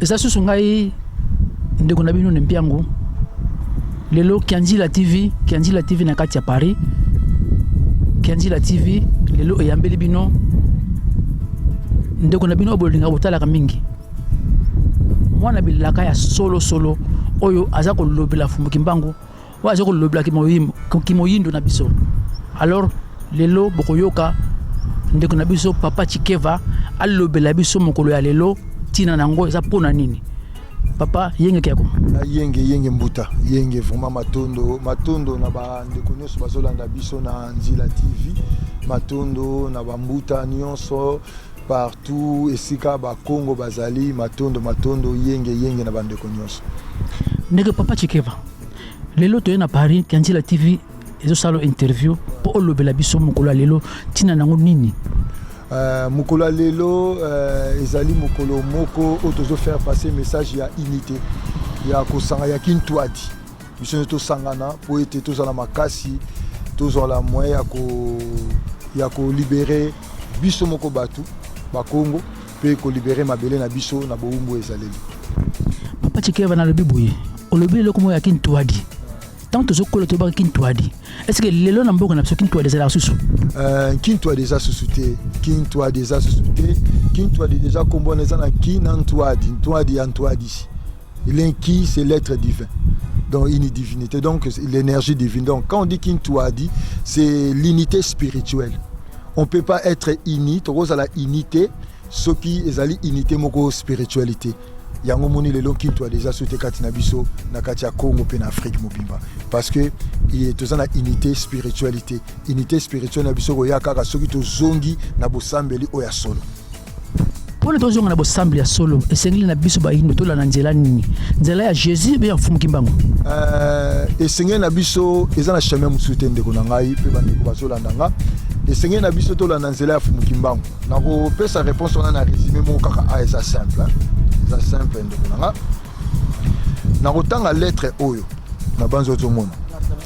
eza susu ngai ndeko na bino na mpiango lelo kianzila tv kianzila tv na kati ya paris kianzila tv lelo eyambeli bino ndeko na bino bolinga botalaka mingi mwana bilaka ya solosolo oyo aza kolobela fumbuki mbangu oyo aza kolobela kimoyindo na biso alors lelo bokoyoka ndeko na biso papa chikeva alobela biso mokolo ya lelo ntina na yango eza mpo na nini papa yenge kiako na yenge yenge mbuta yenge vraiment matondo matondo na bandeko nyonso bazolanda biso na nzila tv matondo na bambuta nyonso partout esika bakongo bazali matondo matondo yenge yenge na bandeko nyonso ndeke papa chikeva lelo toye na paris kanzila tv ezosala interview mpo olobela biso mokolo ya lelo ntina nango nini Uh, mokolo ya lelo uh, ezali mokolo moko oyo tozo faire passer message ya unité ya kosanga ya kintuadi biso nyonso tosangana mpo ete tozala makasi tozala moyen ya ko ya kolibere biso moko bato bakongo mpe ko liberer mabele na biso na bowumbu ya ezaleli. Papa Tshikeva nalobi boye, olobi eloko moko ya kintuadi ntango tozokola toyebaka kintuadi estce lelo na mboka na biso kintuadi ezalaka susu euh, kintuadi eza susu te kintuadi eza susu te kintuadi deja nkombo wana eza na ki na ntuadi ntuadi ya ntuadisi Il est qui c'est l'être divin donc une divinité, donc l'énergie divine. Donc quand on dit Kintuadi, c'est l'unité spirituelle. On ne peut pas être uni, rose à la unité, ce qui est à l'unité, moko spiritualité. yango moni lelo kintu adeja so te kati na biso na kati ya congo mpe na afrike mobimba parce que toza na unité spiritualité unité spirituelle na biso koya kaka soki tozongi na bosambeli oyo ya solo mpo na tozonga na bosambeli ya solo esengeli na biso bayindo tolanda nzela nini nzela ya jésus mpe ya mfumu kimbangu euh, esengeli na biso eza na chemin mosusu te ndeko na ngai mpe bandeko bazolanda nga esengeli na biso tolanda nzela ya mfumu kimbangu nakopesa réponse wana na résumé moko kaka a ah, eza simple eza simple ndeko na nga nakotanga lettre oyo na banzi ozomona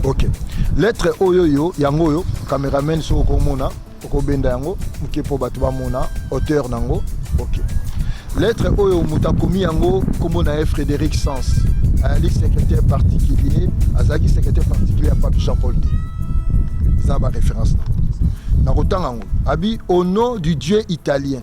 ok lettre oyo yo yango oyo cameraman soki okomona okobenda yango moke mpo bato bamona hauteur na yango ok lettre oyo moto akomi yango nkombo na ye frédéric sens ayali secrétaire particulier azalaki secrétaire particulier ya pape jean paul ii eza baréférence na nakotanga yango abi au nom du dieu italien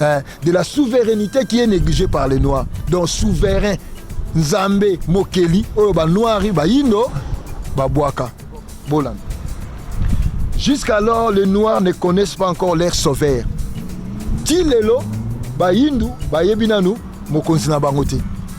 hein, de la souveraineté qui est négligée par les noirs donc souverain nzambe mokeli oyo banoiri bayindo babwaka bolanda jusqu'alors les noirs ne connaissent pas encore leur sauveur ti lelo bayindu bayebi nanu mokonzi na bango te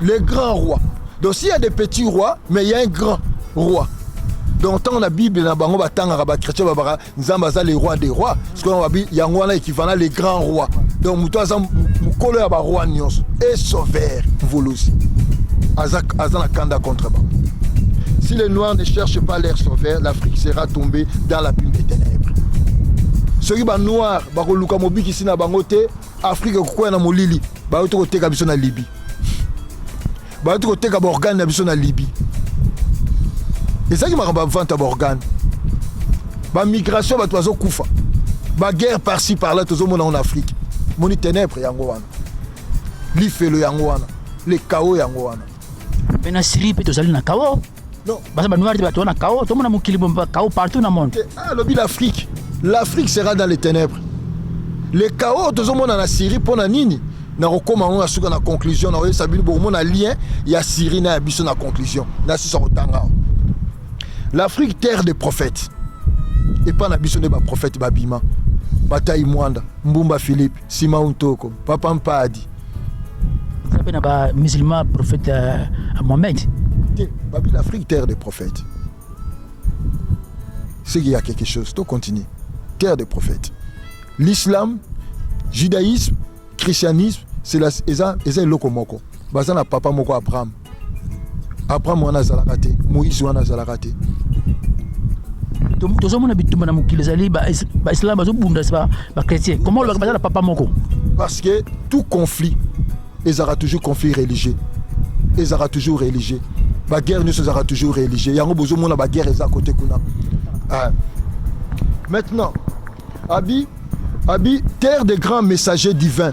le grand roi donc s'il y a des petits rois mais il y a un grand roi donc ntango na bible na bango batangaka bachrétien babaka nzambe aza le roi des rois sikoyo babi yango wana ekivana le grand roi donc moto aza mokolo ya baroi nyonso e sauveur mvuluzi aza, aza na kanda contre bango si les noirs ne cherchent pas leur sauveur l'afrique sera tombée dans la plume des ténèbres soki banoir bakoluka mobikisi na bango te afrika ekokwea na molili bauti koteka biso na libi bauti koteka baorgane na biso na libi ezalaki makambo ya vente ya baorgane bamigration bato bazokufa baguerre parci parla tozomona yango na afrike moni tenebre yango wana lifelo yango wana le kao yango wana mpe na syrie mpe tozali na kao Non. Baza ba noir bato wana kao tomona mokili bomba kao partout na monde. Ah lobi l'Afrique. L'Afrique sera dans les ténèbres. Le chaos tozomona na Syrie mpo na nini nakokoma yango na suka na conclusion na oyebisa bino bokomona lien ya Syrie na ya biso na conclusion na sisa kotanga awa l'Afrique terre des prophètes epai na biso nde baprophète babima batai mwanda mbumba philippe simaun toko papa mpadi eza mpe na ba musulman prophète euh, mohamed te babi l'afrique terre des prophètes ce qu'il y a quelque chose to continue terre des prophètes l'islam judaïsme christianisme c'est la eza eza eloko moko baza na papa moko abraham Abraham wana azalaka te, Moïse wana azalaka te. tozomona bitumba na mokili ezali baislam bazobunda bachrétien koma olobaka baza na papa moko parce que tout conflit ezalaka toujours conflit religieux ezalaka toujours religieux baguerre nyonso ezalaka toujours religieux yango bozomona baguerre eza kote kuna ah. maintenant abi abi terre des grands messagers divins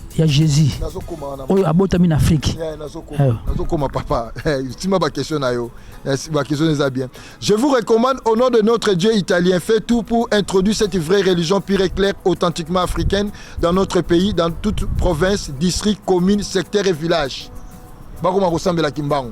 ya jésus oyo abotami na afrique nazokoma papa tima bakestion na yo bakestion eza bien je vous recommande au nom de notre dieu italien fait tout pour introduire cette vraie religion pure et claire authentiquement africaine dans notre pays dans toute province district commune secteur et village bakoma kosambela kimbangu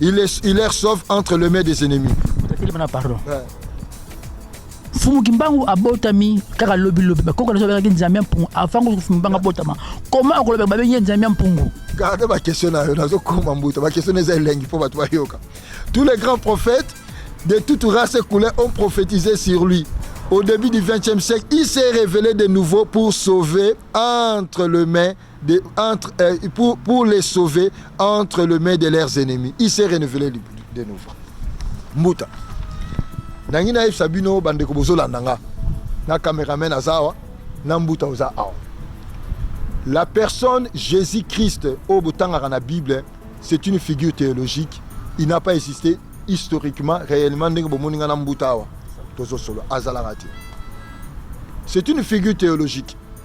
il est il est sauf entre le main des ennemis bana pardon fumu kimbangu abotami kaka lobi lobi bakoko naso babengaki nzambe ya mpungu avant kutu fumu kimbangu abotama koma okolobeka babengi ye nzambe ya mpungu garde bakestion na yo nazokoma mbuta bakestion eza elengi mpo bato bayoka tous les grands prophètes de toute race et couleur ont prophétisé sur lui au début du 20e siècle il s'est révélé de nouveau pour sauver entre le main de, entre, euh, pour, pour les sauver entre le mains de leurs ennemis. Il s'est renouvelé de nouveau. Mbuta. Nangi na yebisa bino bandeko bozolanda nga na cameraman aza awa na mbuta oza awa la personne jésus christ oyo botangaka na bible c'est une figure théologique il n'a pas existé historiquement réellement ndenge bomoni nga na mbuta awa tozosolo azalaka te c'est une figure théologique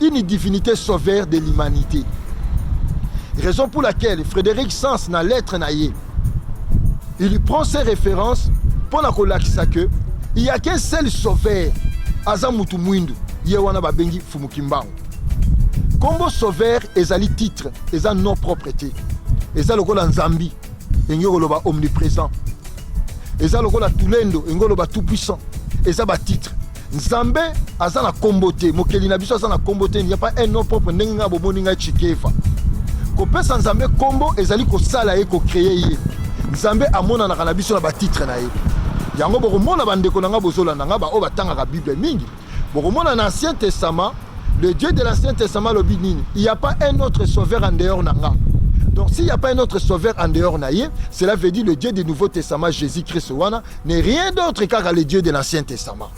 Une divinité sauveur de l'humanité. Raison pour laquelle Frédéric Sans na lettre na ye, il prend ses références pour na kolakisa que il y a qu'un seul sauveur aza mutu mwindu ye wana babengi Fumu Kimbangu. Kombo sauveur ezali titre, eza nom propre te. Eza lokola Nzambi, engi koloba omniprésent. Eza lokola Tulendo, engi koloba tout puissant. Eza ba titre. nzambe aza na kombo te mokeli na biso aza na kombo te ya pas un nom propre ndenge ngai bomoni ngai chikefa kopesa nzambe kombo ezali kosala ye kocreye ye nzambe amonanaka na biso na batitre na ye yango bokomona bandeko na ngai bozolanda ngai baoyo batangaka bible mingi bokomona na ancien testament le dieu de l'ancien testament alobi nini il y a pas un autre sauveur en dehors na ngai Donc s'il n'y a pas un autre sauveur en dehors naïe, cela veut dire le Dieu du Nouveau Testament, Jésus-Christ, ne rien d'autre kaka le dieu de l'ancien testament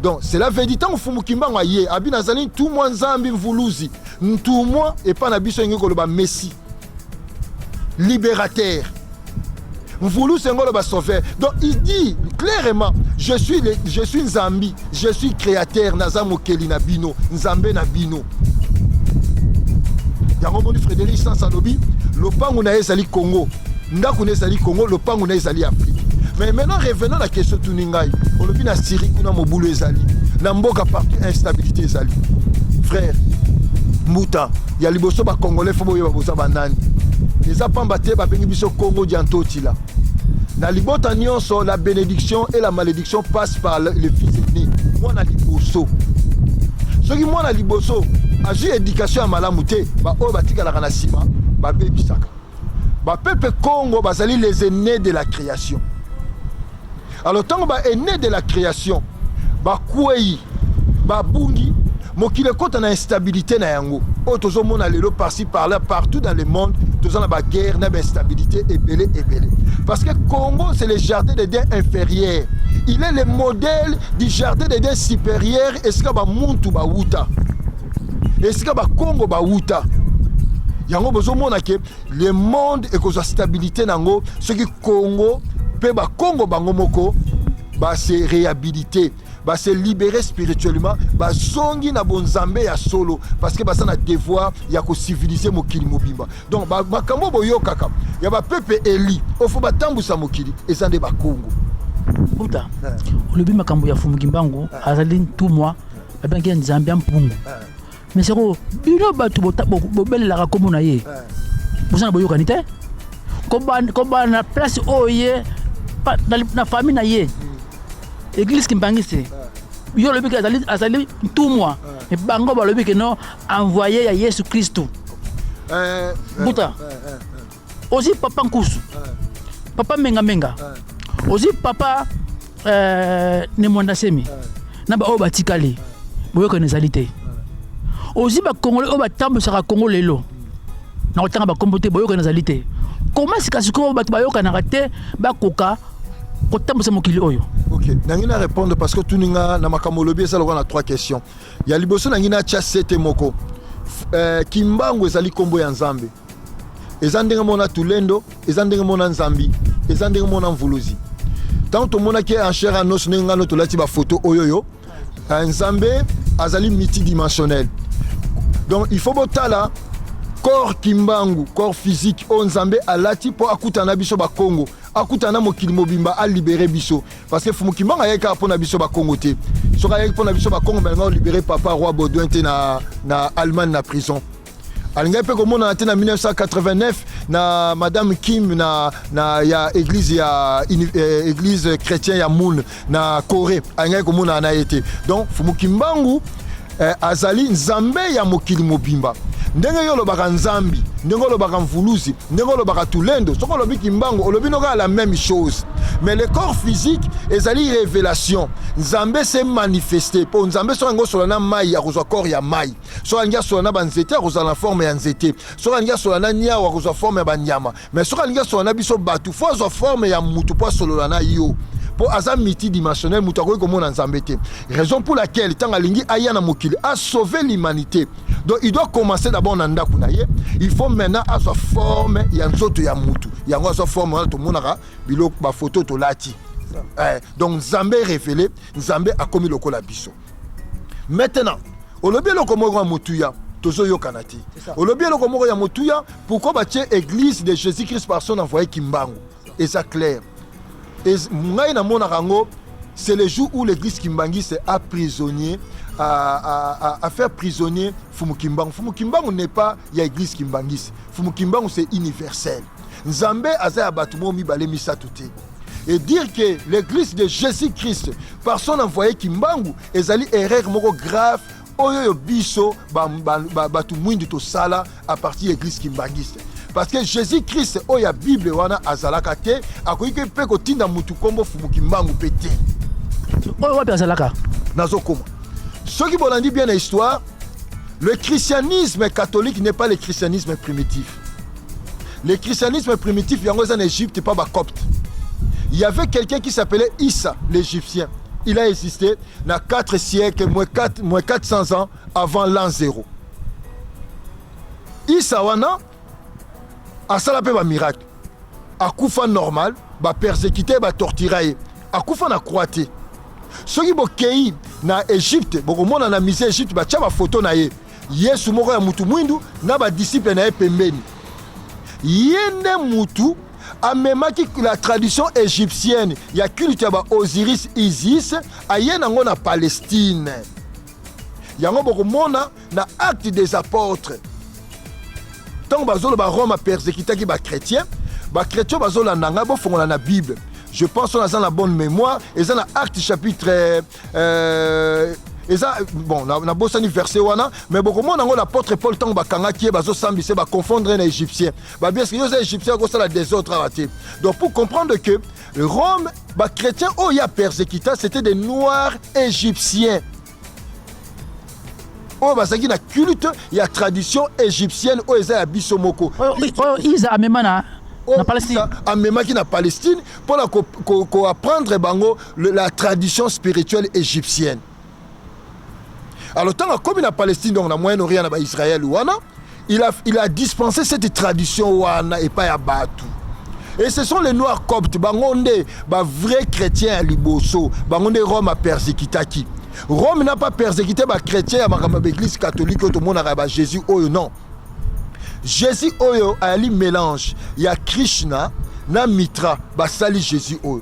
donc cela veut dire ntango fumu kimbangu aye abi nazali ntumwa nzambi mvuluzi ntumwa epai na biso elingi koloba messi libérateur mvuluzi yango oloba sauveur donc il dit clairement je suis, le, je suis nzambi Je suis createur naza mokeli na bino nzambe na bino yango moni frédéric sans alobi lopango na ye ezali congo ndako na ezali congo lopango na ezali afrique mais maintenant revenant na question tuni ngai olobi na syrie kuna mobulu ezali na mboka partout instabilité ezali frère mbuta ya liboso bacongolais fo boyeba boza banani eza pamba te babengi biso congo diantotila Na libota nionso la benediction et la malediction passe par le, le fils aîné, mwana liboso. Soki mwana liboso azwi education ya malamu te, ba oyo batikalaka na sima babebisaka. Ba pepe Congo bazali les aînés de la création. Alors tango ba aines de la creation bakweyi babungi mokili ekota na instabilité na yango oyo tozomona lelo parci par là partout dans le monde toza na baguerre na bainstabilité ebele ebele parce que congo c'est le jardin de dins inférieur il est le modèle du jardin de dins supérieur esika bamuntu bawuta esika bakongo bawuta yango bozomona ke Le monde ekozwa stabilite na yango soki Congo mpe bakongo bango moko ba se rehabiliter ba se libérer spirituellement bazongi na bonzambe ya solo parce que baza na devoir ya kocivilize mokili mobimba donc makambo oyo boyokaka ya bapepe eli ofo batambwisa mokili eza nde bakongo buta olobi makambo ya fumukimbangu azali ntumwa babengaki ya nzambe ya mpungu mais soko bino bato bobelelaka nkombo na ye boza na boyokani te kobana na place oyo ye na famille na ye église kimbangiste yo olobi ke azali, azali ntumwa me bango balobi ke no envoye ya yesu kristu eh, eh, buta eh, ozwi papa nkusu papa mengamenga ozwi papa euh, nemwanda semi na baoyo batikali boyokani ezali te ozwi bakongole oyo batambwisaka kongo lelo na kotanga bakombo te boyokani ezali te koma sikasikoyo bato bayokanaka te bakoka kotambwisa mokili oyo ok nangi na répondre parce que otuni nga na makambo olobi eza lokola na trois questions ya liboso nangi natya sete moko euh, kimbangu ezali nkombo ya nzambe eza ndenge mona tulendo eza ndenge mona nzambi eza ndenge mona mvuluzi ntango tomonaki en chair a noce ndenge ngano tolati bafoto oyo yo eh, nzambe azali multidimensionnel donc il faut botala corps kimbangu corps physique oyo nzambe alati mpo akutana na biso bakongo akutana na mokili mobimba alibere biso parce que fumu kimbangu ayaki kaka mpo na biso bakongo te soki ayaki mpo na biso bakongo balinga olibere papa roi baudouin te na, na allemagne na prison alingaki mpe komonana te na 1989 na madame kim na, na ya église ya eh, église chrétien ya moon na corée alingaki komonana na ye te donc fumu kimbangu eh, azali nzambe ya mokili mobimba ndenge yo olobaka nzambi ndenge olobaka mvuluzi ndenge olobaka tulendo soki olobi kimbangu olobi nokaa la même chose mais le corps physique ezali révélation nzambe se manifeste mpo nzambe soki yango osola na mai akozwa corps ya mai soki alingi asola na banzete akozala na forme ya nzete soki alingi asola na niau akozwa forme ya banyama mai soki alingi asola na biso bato fo azwa forme ya motu mpo asolola na yo mpo aza multidimensionnel moto akoki komona nzambe te raison pour laquelle ntango alingi aya na mokili asauve l'humanité donc il doit commencer d'abord na ndako na ye il faut maintenant azwa forme ya nzoto ya motu yango azwa forme wana tomonaka biloko bafoto tolati eh, donc nzambe révélé nzambe akomi lokola biso maintenant olobi eloko moko ya motuya tozoyokana te olobi eloko moko ya motuya pourkoi batie église de jésus christ par son envoyé kimbangu eza clair ngai namonaka yango c'est le jour où l'église kimbanguiste a prisonnier à, à, à, à faire prisonnier Fumu Kimbangu. Fumu Kimbangu n'est pas ya église kimbanguiste. Fumu Kimbangu c'est universel. Nzambe aza ya bato mo mibale misato te. et dire que l'église de Jésus-Christ par son envoyé Kimbangu ezali erreur moko grave oyo yo biso bato mwindu tosala à partir ya église kimbanguiste parce que Jésus-Christ oyo ya Bible wana azalaka te akoki mpe kotinda motu nkombo fumu Kimbangu mpe te oyo wapi azalaka nazokoma soki bolandi bien na histoire le christianisme catholique n'est pas le christianisme primitif le christianisme primitif yango eza na egypte pa bacopte il y avait quelqu'un qui s'appelait issa l'égyptien il a existé na 4 siècle moins 4, moins 400 ans avant l'an 0 issa wana asala mpe bamiracle akufa normal bapersekite batortira ye akufa na croix te soki bokei na egypte bokomona na musée egypte batya bafoto na ye Yesu moko ya mutu mwindu na ba disciples na ye pembeni. Ye nde mutu amemaki la tradition egyptienne ya culte ya ba Osiris Isis aye nango na Palestine. Yango bokomona na Actes des Apotres ntango bazoloba Rome apersekitaki bakretien, bakretien bazolanda ngai bofongola na Bible je pense wana aza na bonne mémoire eza na Acte chapitre euh, eza bon na, na bosani verset wana mais bokomona yango l'apôtre paul ntango bakangaki ye bazosambisa ye baconfondre ye na égyptien babi eske yo oza égyptien akosala desordre awa te donc pour comprendre que rome bachrétien oyo ya persécuta c'était des noirs égyptiens oyo bazalaki na culte ya tradition égyptienne oyo eza ya biso moko oyo isa amema na amemaki na palestine mpo na koapprendre bango le, la tradition spirituelle égyptienne alors ntango akomi na palestine donc na moyen orient na baisrael wana il a, il a dispensé cette tradition wana epai ya bato et ce sont les noirs coptes bango nde bavrai chrétien ya liboso bango nde rome apersekitaki rome n'a pas persécuté bachrétien ya makambo ya baeglise catholique oyo tomonaka ya bajésus oyo non jésus oyo ayali mélange ya krishna na mitra basali jésus oyo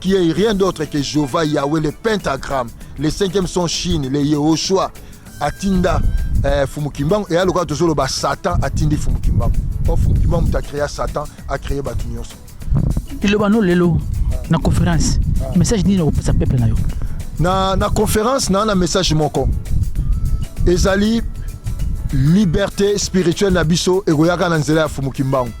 qui est rien d'autre que Jehovah Yahweh le pentagramme le cinquième son Chine le Yehoshua atinda eh, Fumu Kimbangu eya lokola tozoloba Satan atindi Fumu Kimbangu o Fumu Kimbangu moto acrea Satan acree bato nyonso liloba no lelo na conférence ah. message nini okopesa peuple na yo na, na conférence na na message moko ezali liberté spirituelle na biso ekoyaka na nzela ya Fumu Kimbangu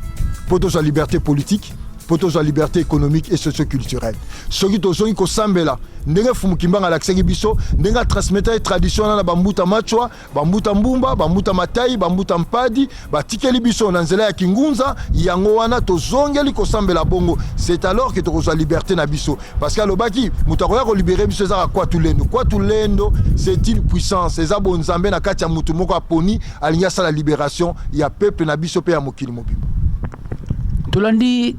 mpo tozwa liberté politique mpo tozwa liberté économique et socioculturelle soki tozongi kosambela ndenge fumu kimbanga alakisaki biso ndenge atransmetaki tradition wana na bambuta machwa bambuta mbumba bambuta matai bambuta mpadi batikeli biso na nzela ya kingunza yango wana tozongeli kosambela bongo c'est alors ke tokozwa liberté na biso parce que alobaki moto akoya kolibere biso ezaka kwatu lendo kwatu lendo c'est une puissance eza bonzambe na kati ya moto moko aponi alingi asala liberation ya peuple na biso mpe ya mokili mobimba tolandi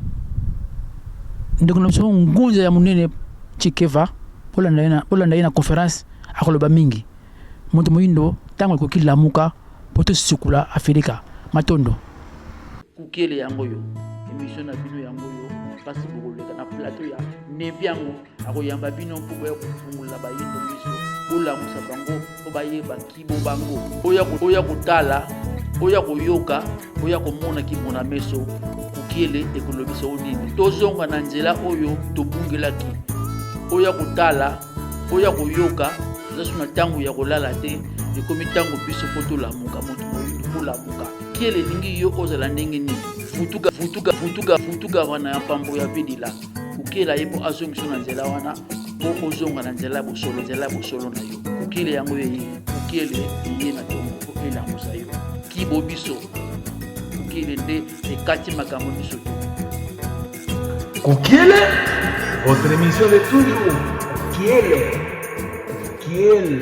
ndeko na biso ngunza ya monene chikeva bolanda ye na conference akoloba mingi moto moyindo ntango ekoki lamuka mpo tosikula afirika matondo kukele yango yo emission na bino yango yo kasi bokoleka na plateau ya nebi yango akoyamba bino mpo boya kofungola bayindo miso bolamusa bango mpo bayeba kibo bango oya kotala oya koyoka oya komona kimona meso kokiele ekolobisa o nini tozonga na nzela oyo tobungelaki oya kotala oya koyoka tozasu na ntango ya kolala te ekomi ntango biso mpo tolamuka moto moyindo kolamuka kiele elingi yo ozala ndenge nini futuka futuka futuka futuka wana ya mpambo ya vedila kokela ye mpo azongisa na nzela wana mpo ozonga na nzela ya bosolo nzela ya bosolo na yo kokele yango eye kokele eye na tongo mpo elamusa yo kibo biso kokele nde ekati makambo biso te kokele votre émission de toujours kokele kokele